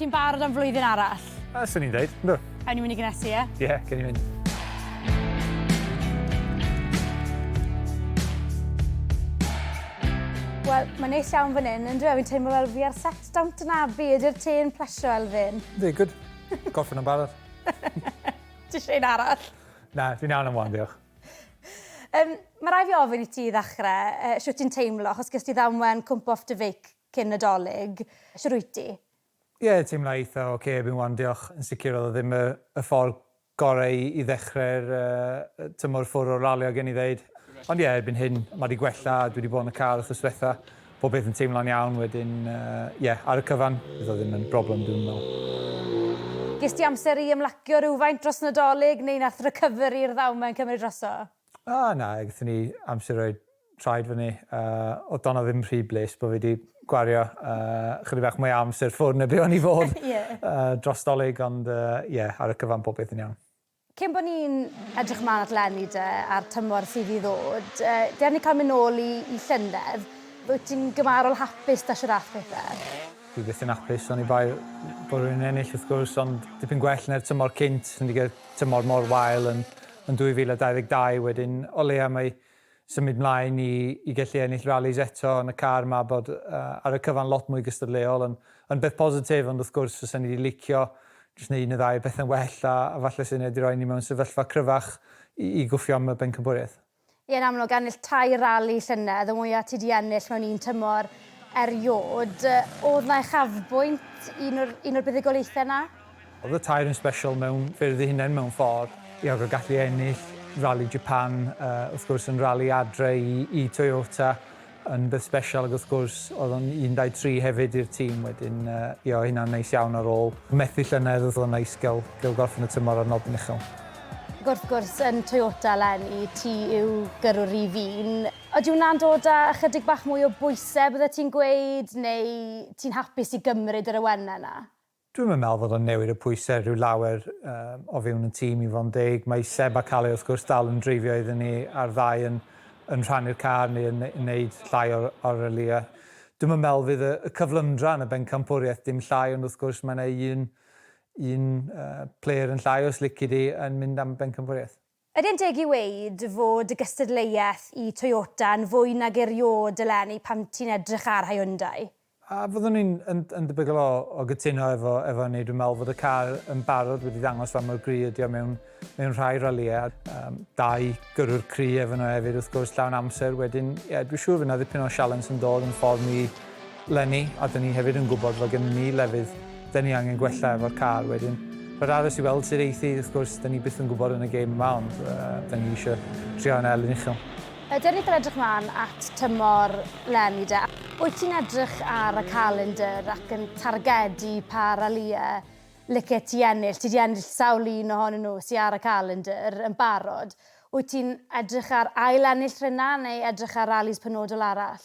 Ti'n barod am flwyddyn arall? Yy, swn i'n dweud, yndw. Awn ni mynd i gynhesu, ie? Ie, yeah, gen i mynd. Wel, mae'n neis iawn fan hyn, yn dwi? Fi'n teimlo fel fi ar set dawnt yn abu, ydy'r te'n plesio Elfyn? Ydy, good. Gorffen yn barod. Ti eisiau un arall? Na, fi'n iawn am wan, diolch. Um, mae rai fi ofyn i ti i ddechrau, uh, siwt ti'n teimlo, achos gys ti ddamwen cwmp off dy feic cyn Nadolig. Shwt wyt ti? Ie, teimla eitha ok erbyn wan diolch. Yn sicr oedd o ddim y y ffordd gorau i i ddechrau'r yy tymor ffwr o'r ralio gen i ddeud. Ond ie, erbyn hyn ma di gwella, dwi di bod yn y car wthnos dwetha, pob peth yn teimlo'n iawn wedyn yy ie, ar y cyfan fydd o ddim yn broblem dwi'm yn meddwl. Ges ti amser i ymlacio rywfaint dros Nadolig neu nath recovery i'r ddaw ma yn cymryd drosodd? A, na, gaethon ni amser rhoi traed fyny. Oedd Donna ddim rhy bles bod fi wedi gwario chydig bach mwy o amser ffwrn na be o'n i fod dros Dolig, ond ie, ar y cyfan popeth yn iawn. Cyn bod ni'n edrych ymlaen at lenni de a'r tymor sydd i ddod, ger ni cael mynd nôl i llynedd, wyt ti'n gymharol hapus da siwr â'th pethau? Dwi byth yn hapus, oni bai bod rhywun yn ennill wrth gwrs, ond dipyn gwell na'r tymor cynt, 'swn i 'di gweud tymor mor wael yn Yn 2022 wedyn o leia mae symud mlaen i i gellu ennill rallis eto yn y car ma bod ar y cyfan lot mwy gystadleuol yn yn beth positif ond wrth gwrs fysen i di licio jyst neu un neu ddau o bethe'n well a a falle sy'n edi roi ni mewn sefyllfa cryfach i i gwffio am y bencampwriaeth. Ie, yn amlwg, ennill tair rali llynedd, y mwyaf ti 'di ennill mewn un tymor eriod. Oedd 'na uchafbwynt, un o'r, un o'r buddugoliaethau 'na? Oedd y tair yn sbesial mewn ffyrdd eu hunain mewn ffordd. Ie, ac o gallu ennill Rali Japan, wrth gwrs, yn rali adre i Toyota, Yn beth sbesial ac wrth gwrs oedd o'n 13 hefyd i'r tîm wedyn yy ie hynna'n neis iawn ar ôl methu llynedd oedd o'n neis gael gael gorffen y tymor ar nodyn uchel. Ac wrth gwrs yn Toyota eleni ti yw gyrrwr rif un. Ydy hwnna'n dod â ychydig bach mwy o bwysau byddet ti'n gweud neu ti'n hapus i gymryd yr awenau 'na? Dwi'm yn meddwl fod o'n newid y pwysau rhyw lawer o fewn y tîm i fod yn deg. Mae Seb a Kalle wrth gwrs dal yn dreifio iddyn ni a'r ddau yn yn rhannu'r car neu yn wneud llai o'r o'r ralïau. Dwi'm yn meddwl fydd y y cyflymdra yn y bencampwriaeth dim llai ond wrth gwrs mae 'na un un yy player yn llai os lici di yn mynd am y bencampwriaeth. Ydy'n deg i ŵeud fod dy gystadleuaeth i Toyota yn fwy nag eriôd eleni pan ti'n edrych ar Hyundai? A, fyddwn i'n yn yn debygol o o gytuno efo efo hynny. Dwi'n me'wl fod y car yn barod wedi dangos fa mor gry ydi o mewn mewn rhai ralïe a yym dau gyrrwr cry efo nhw hefyd wrth gwrs llawn amser wedyn ie dwi siŵr fy' 'na ddipyn o sialens yn dod yn ffordd ni leni a dyn ni hefyd yn gwybod fod gennyn ni lefydd dyn ni angen gwella efo'r car wedyn rhaid aros i weld sut eith hi wrth gwrs dyn ni byth yn gwybod yn y gêm yma ond dyn ni eisiau trio yn elyn uchel. Ydyn ni'n edrych mlaen at tymor leni de? Wyt ti'n edrych ar y calendr ac yn targedu pa ralïau licet ti ennill? Ti 'di ennill sawl un ohonyn nhw sy ar y calendr yn barod. Wyt ti'n edrych ar ail-ennill rheina neu edrych ar ralis penodol arall?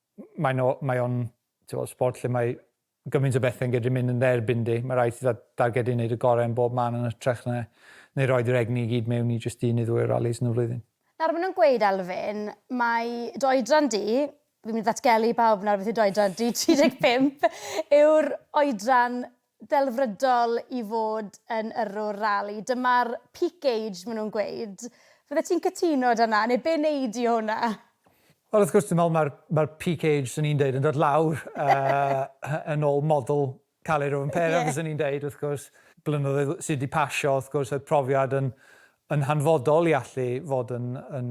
Mae'n o, mae o'n, ti'n sport lle mae gymaint o bethe'n gallu mynd yn dde erbyn di. Mae rhaid ti dda- dargedu wneud y gorau yn bob man yn hytrach na neu roed yr egni i gyd mewn i jyst un neu ddwy o rallis yn y flwyddyn. Nawr maen nhw'n gweud, Elfyn, mai dy oedran di, fi'n mynd i ddatgelu i bawb nawr beth yw dy oedran di, 35, yw'r oedran ddelfrydol i fod yn yrrwr rali. Dyma'r peak age maen nhw'n gweud. Fyddet ti'n cytuno 'da 'na, neu be wnei di o hwnna? Wel wrth gwrs dwi'n meddwl mae'r mae'r peak age 'swn i'n deud yn dod lawr yn ôl model Caled Rowan Pera fyswn i'n deud wrth gwrs. Blynyddoedd sydd 'di pasio wrth gwrs oedd profiad yn yn hanfodol i allu fod yn yn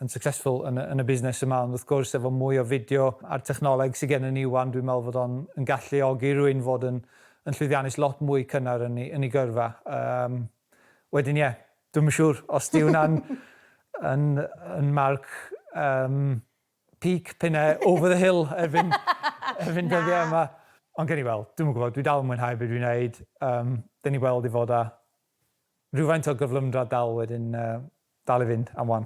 yn successful yn y yn y busnes yma ond wrth gwrs efo mwy o fideo a'r technoleg sy gennym ni ŵan dwi'n meddwl fod o'n yn galluogi rwy'n fod yn yn llwyddiannus lot mwy cynnar yn ei yn ei gyrfa yym wedyn ie dwi'm yn siŵr os di hwnna'n yn yn marc yym peak p'un ai over the hill erbyn erbyn dyddiau yma ond gewn ni weld dwi'm yn gwybod dwi dal yn mwynhau be dwi'n neud yym dan ni'n gweld i fod â Rhywfaint o gyflymdra dal wedyn dal i fynd am wan.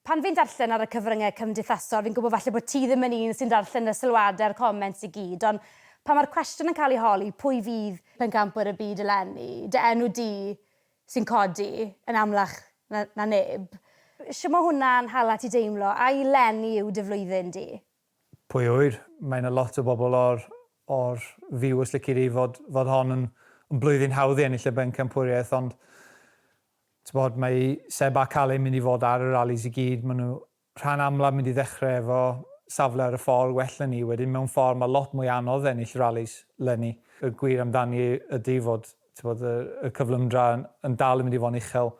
Pan fi'n darllen ar y cyfryngau cymdeithasol fi'n gwybod falle bod ti ddim yn un sy'n darllen y sylwadau a'r comments i gyd ond pan mae'r cwestiwn yn cael ei holi pwy fydd pencampwyr y byd eleni, dy enw di sy'n codi yn amlach na neb. Shwt mae hwnna'n hala ti deimlo? Ai 'leni yw dy flwyddyn di? Pwy a ŵyr, mae yna lot o bobl o'r o'r viewers lici di fod fod hon yn yn blwyddyn hawdd i ennill y bencampwriaeth ond t'bod mae Seb a Kalle mynd i fod ar y rallies i gyd ma' nhw rhan amlaf mynd i ddechrau efo safle ar y ffordd well na ni wedyn mewn ffordd mae lot mwy anodd ennill rallies leni y gwir amdani ydy fod t'bod y y cyflymdra yn yn dal yn mynd i fo'n uchel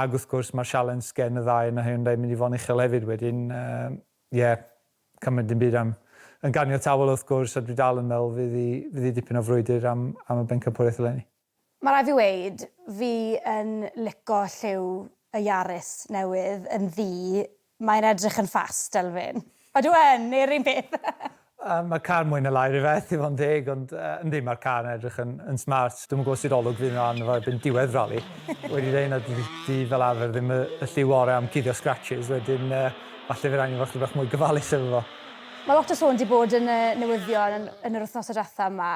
ag wrth gwrs mae'r sialens gen y ddau yn y Hyundai mynd i fo'n uchel hefyd wedyn yy Ie, cymryd dim byd am. Yn ganiataol wrth gwrs, a dwi dal yn meddwl fydd hi, fydd hi dipyn o frwydr am, am y bencampwriaeth eleni. Mae rhaid fi weud, fi yn lico lliw y Yaris newydd yn ddu, mae'n edrych yn fast, Elfyn. Ydw yn, neu'r un peth? Yy ma'r car mwy na lai rhyfedd i fod yn deg ond yy yndi ma'r car yn edrych yn yn smart dwi'm yn gwbo sut olwg fydd yna arno fo erbyn diwedd rali wedi deud na dydi dydi fel arfer ddim y y lliw ore am cuddio scratches wedyn yy falle fydd angen fo chydig bach mwy gofalus efo fo. Ma lot o sôn di bod yn y newyddion yn yn yr wthnosa dwetha ma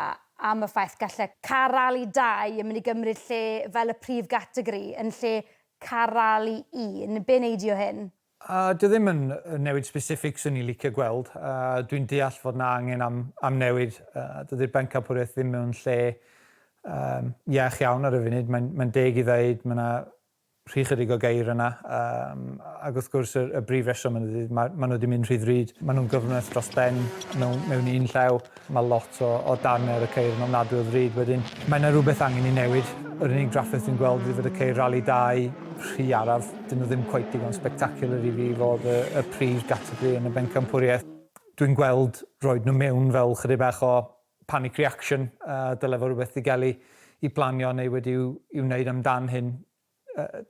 am y ffaith galle car rali dau yn mynd i gymryd lle fel y prif gategori yn lle car rali un, be neidio hyn? A dwi ddim yn newid specific swn i'n licio gweld, a dwi'n deall fod na angen am am newid, dydi'r bencampwriaeth ddim mewn lle yym iach iawn ar y funud, mae'n mae'n deg i ddeud ma' na rhy chydig o geir yna yym ag wrth gwrs y y brif reswm ydi ma' ma' nhw wedi mynd rhy ddrud, ma' nhw'n gyfnwys dros ben mewn mewn un llaw. Mae lot o o darnau ar y ceir yn ofnadwy o ddrud wedyn. Mae yna rhywbeth angen i newid. Yr unig drafferth dwi'n gweld ydy fod y ceir Rali 2 rhy araf. Dyn nhw ddim cweit digon spectacular i fi fod y y prif gategori yn y bencampwriaeth. Dwi'n gweld roed nhw mewn fel chydig bach o panic reaction a dyle fod rhywbeth digelu i blanio neu wedi'w i'w wneud amdan hyn.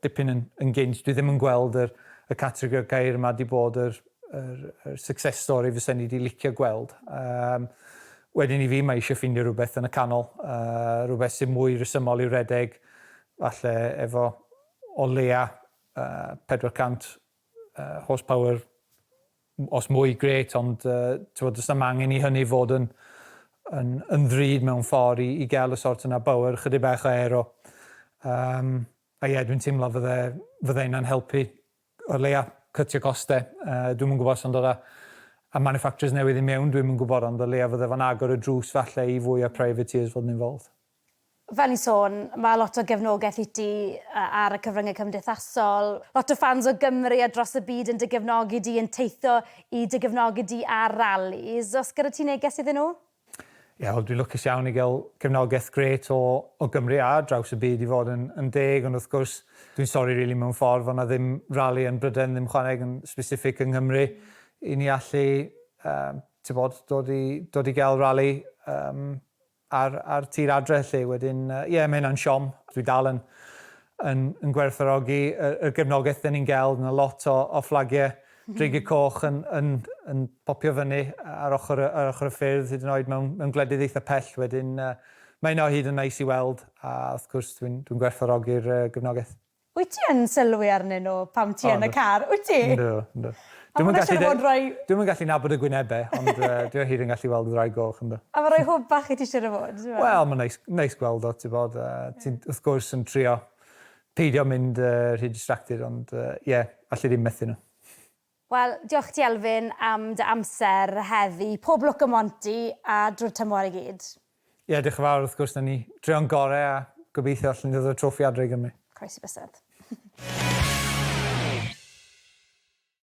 dipyn yn gynt, dwi ddim yn gweld yr y categori o'r gair yma 'di bod yr yr yr success story fysen ni 'di licio gweld. Yym wedyn i fi mae eisiau ffindio rhywbeth yn y canol, yy rhywbeth sy'n mwy rhesymol i'w redeg, falle efo o leia yy 400 yy horsepower os mwy grêt ond t'mod does na'm angen i hynny fod yn yn yn ddrud mewn ffordd i i gael y sort yna bywyd, chydig bach o aero. Yym a ie dwi'n teimlo fydde fydde hynna'n helpu o leia cytio coste yy dwi'm yn gwybod os o'n dod â a manufacturers newydd i mewn dwi'm yn gwybod ond o leia fydde fo'n agor y drws falle i fwy o privateers fod yn involved. Fel ni'n sôn, mae lot o gefnogaeth i ti ar y cyfryngau cymdeithasol. Lot o ffans o Gymru a dros y byd yn dy gefnogi di, yn teithio i dy gefnogi di ar ralis. Oes gyda ti neges iddyn nhw? Ie, wel dwi'n lwcus iawn i gael cefnogaeth grêt o o Gymru a ar draws y byd i fod yn yn deg, ond wrth gwrs dwi'n sori rili mewn ffordd fod 'na ddim rali yn Brydain ddim chwaneg yn specific yng Nghymru i ni allu yy t'bod dod i dod i gael rali yym Ar ar tir adre 'lly wedyn yy ie ma' hynna'n siom. Dwi dal yn yn yn gwerthfawrogi y y gefnogaeth 'dyn ni'n ga'l, ma' lot o o fflagie dreigie coch yn yn yn popio fyny ar ochor y ar ochor y ffyrdd hyd yn oed mewn mewn gwledydd eitha pell wedyn yy ma' hynna o hyd yn neis i weld a wrth gwrs dwi'n dwi'n gwerthfawrogi'r yy gefnogaeth. Wyt ti yn sylwi arnyn nhw pan ti yn y car, wyt ti? Na, na. Dwi'm yn gallu gweld rhai... Dwi'm yn gallu nabod y gwynebau, ond dwi o hyd yn gallu weld gwraig goch, yndw. A mae rhai hwb bach i ti siŵr o fod? Wel, mae'n neis, neis gweld o, ti'n gwybod, a ti wrth gwrs yn trio peidio mynd rhy distracted, ond ie, alli ddim methu nhw. Wel, diolch ti Elfyn am dy amser heddi. Pob lwc ym Monti a drwy'r tymor i gyd. Ie, diolch yn fawr, wrth gwrs, 'na ni. Drio'n gore a gobeithio allen ni ddod â'r trofi adre i Gymru. Croesi bysedd.